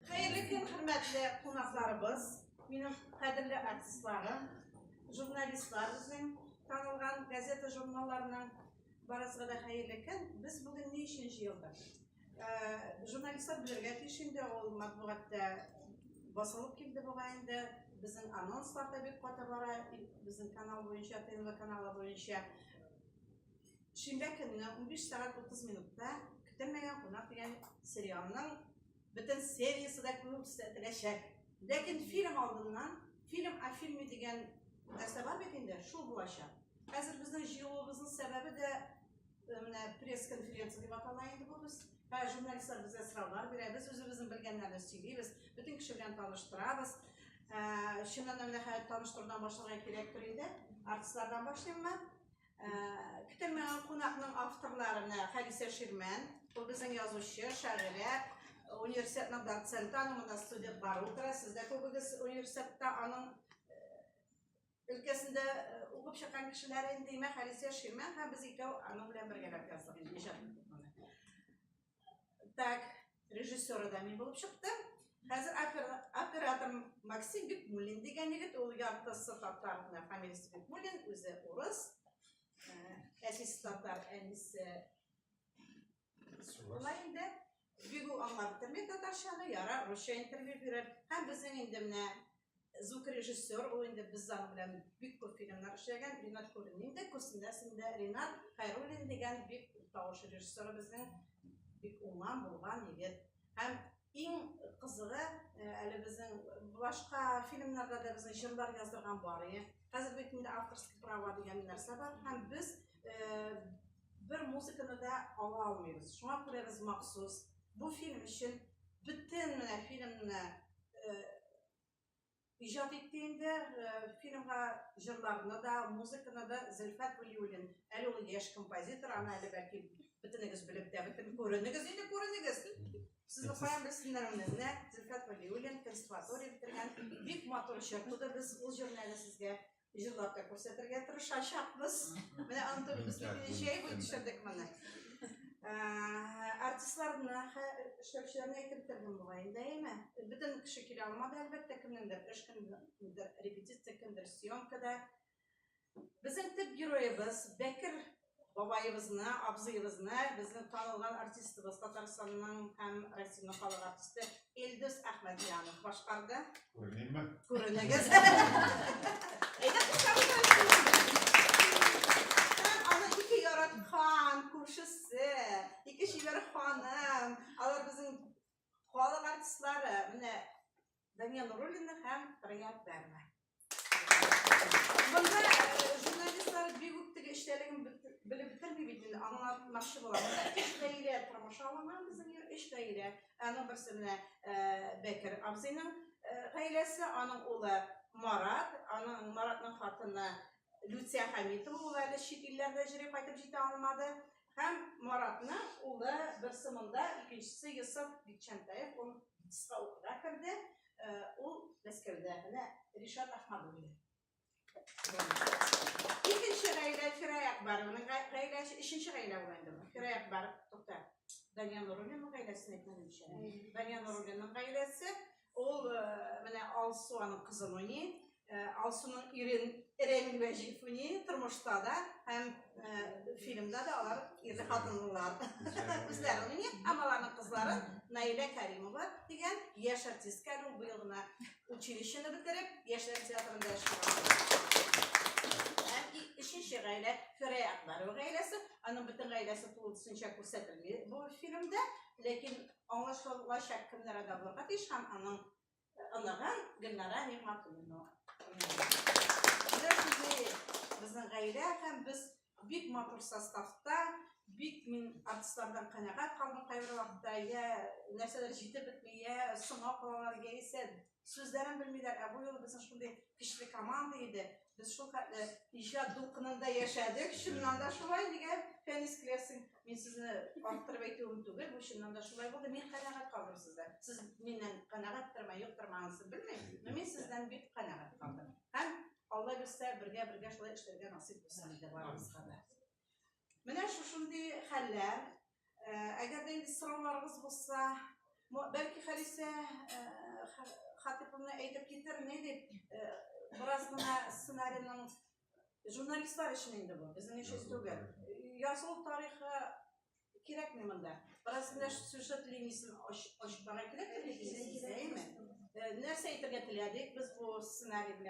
Хәерле көн, хөрмәтле кунакларыбыз, минем кадерле артистларым, журналистлар безнең танылган газета журналларының барысыга да хәерле көн. Без бүген ни өчен җыелдык? Э, журналистлар белергә тиеш инде, ул матбугатта басылып килде буга инде. Безнең анонслар да бик каты бара, безнең канал буенча, ТНВ каналы буенча. Шимбә көнне 15 сәгать 30 минутта Көтелмәгән кунак дигән сериалның Бөтен сериясе дә күрсәтеләчәк. Ләкин фильм алдыннан, фильм о фильме дигән нәрсә бар бит инде, шул булачак. Хәзер безнең җыелуыбызның сәбәбе дә э, менә пресс-конференция дип атала инде бу без. Һә журналистлар безгә сораулар бирә, без үзебезнең белгәннәрне сөйлибез, бөтен кеше белән таныштырабыз. Ә, чыннан да менә хәзер таныштырудан башларга кирәктер инде. Артистлардан башлыйммы? Көтелмәгән кунакның авторларына Хәдисә Ширмән, ул безнең язучы, шагыйрә, университетның доценты, аның монда студент бар утыра, сез дә күбегез университетта аның өлкәсендә укып чыккан кешеләр инде, димәк, Хәдисә Ширмән һәм без икәү аның белән бергәләп яздык инде иҗат Так, режиссеры да мин булып чыкты. Хәзер оператор Максим Бекмулин дигән егет, ул яртысы татар, фамилиясе Бекмулин, үзе урыс. Э, әсис татар, әнисе шулай инде. Бигу аңлап тормый татарчаны, яра русча интервью бирер. Һәм безнең инде менә звукорежиссер ул инде без аның белән бик күп фильмнар эшләгән ринат кулинин дә күрсеннәрсең дә ринат хайруллин дигән бик тавыш режиссеры безнең бик уңган булган егет һәм иң кызыгы э, әле безнең башка фильмнарда да безнең җырлар яздырган бар иде хәзер бит инде авторский права дигән нәрсә бар һәм без э, бер музыканы да ала алмыйбыз шуңа күрә без махсус бу фильм өчен бөтен менә фильмны иҗат итте инде фильмга җырларны да музыканы да зөлфәт вәлиуллин әле ул яшь композитор аны әле бәлки бөтенегез белеп тә бөтен күренегез инде күренегез сезне каян белсеннәр аны менә зөлфәт вәлиуллин консерватория бетергән бик матур җыр туды без ул җырны әле сезгә җырлап та күрсәтергә тырышачакбыз. Менә андый без җәй буе төшердек моны. Артистларны, эшләүчеләрне әйтеп тордым була инде, әйме? Бөтен кеше килә алмады, әлбәттә, кемнеңдер эш, кемнеңдер репетиция, кемдер съемкада. Безнең төп героебыз Бәкер бабаебызны, абзыебызны, безнең танылган артистыбыз Татарстанның һәм Россиянең халык артисты Илдус Әхмәдҗанов башкарды. Күренәме? Күренегез. Әйдә, аны ике яраткан, күршесе, ике чибәр ханым, алар безнең Халык артистлары менә Дания Нуруллина һәм Раяд Бәрмә. Монда журналистлар бик үк теге эчтәлеген белеп бетерми бит инде, аңлатмакчы булам. Өч гаилә тормыш алынган безнең өч гаилә. Аның берсе менә Бәкер абзыйның гаиләсе, аның улы Марат, аның Маратның хатыны Люция Хәмитова, ул әле чит илләрдә җире кайтып җитә алмады. Һәм Маратны улы бер сымында, икенчесе Йосыф Битчәнтаев, ул кыска укуда керде. Э, ул Мәскәүдә. Менә Ришат Ахмадуллин. Икенче гаилә Фираяк бар. Аның гаиләсе өченче гаилә ул инде. Фираяк бар. Тукта. Данияр Нуруллинның гаиләсен әйтмәдем ич. Данияр Нуруллинның гаиләсе Ул э, менә Алсу аның кызы уйный. Э, Алсуның ирен Ирен Вәҗиев уйный тормышта да һәм э, фильмда да алар ирле хатынлылар. Үзләре уйный, һәм аларның кызлары Наилә Кәримова дигән яшь артистка ул быел гына училищены бетереп, яшьләр театрында эшли. Һәм өченче гаилә Фирәя Акбарова гаиләсе, аның бөтен гаиләсе тулысынча күрсәтелми бу фильмда, ләкин Аңлашылачак кемнәр ада булырга тиеш һәм аның оныгы Гөлнара Нигъмәтуллина. Безнең гаилә һәм без бик матур составта бик мин артистлардан канәгать калдым кайбер вакытта я нәрсәләр җитеп бетми я соңга калалар яисә Сүзләрен белмиләр, ә бу юлы безнең шундый көчле команда иде. Без шул хәтле иҗат дулкынында яшәдек. Чыннан да шулай дигән Фәнис Клевсин. Мин сезне арттырып әйтүем түгел, бу чыннан да шулай булды. Мин канәгать калдым сездә. Сез миннән канәгатьтерме, юктырмы анысы белмим, но мин сездән бик канәгать калдым. Һәм Алла бирсә, бергә-бергә шулай эшләргә насыйп булсын иде барыбызга да. Менә шушындый хәлләр. Э, әгәр дә инде сорауларыгыз булса, бәлки Халисә э, Хатыповна әйтеп китер, ни дип, э, бераз гына сценарийның журналистлар өчен инде бу, безнең өчен түгел. Язу тарихы кирәкми монда. Бераз гына сюжет линиясен ачыкларга кирәк, әйеме? Нәрсә әйтергә теләдек без бу сценарий белән?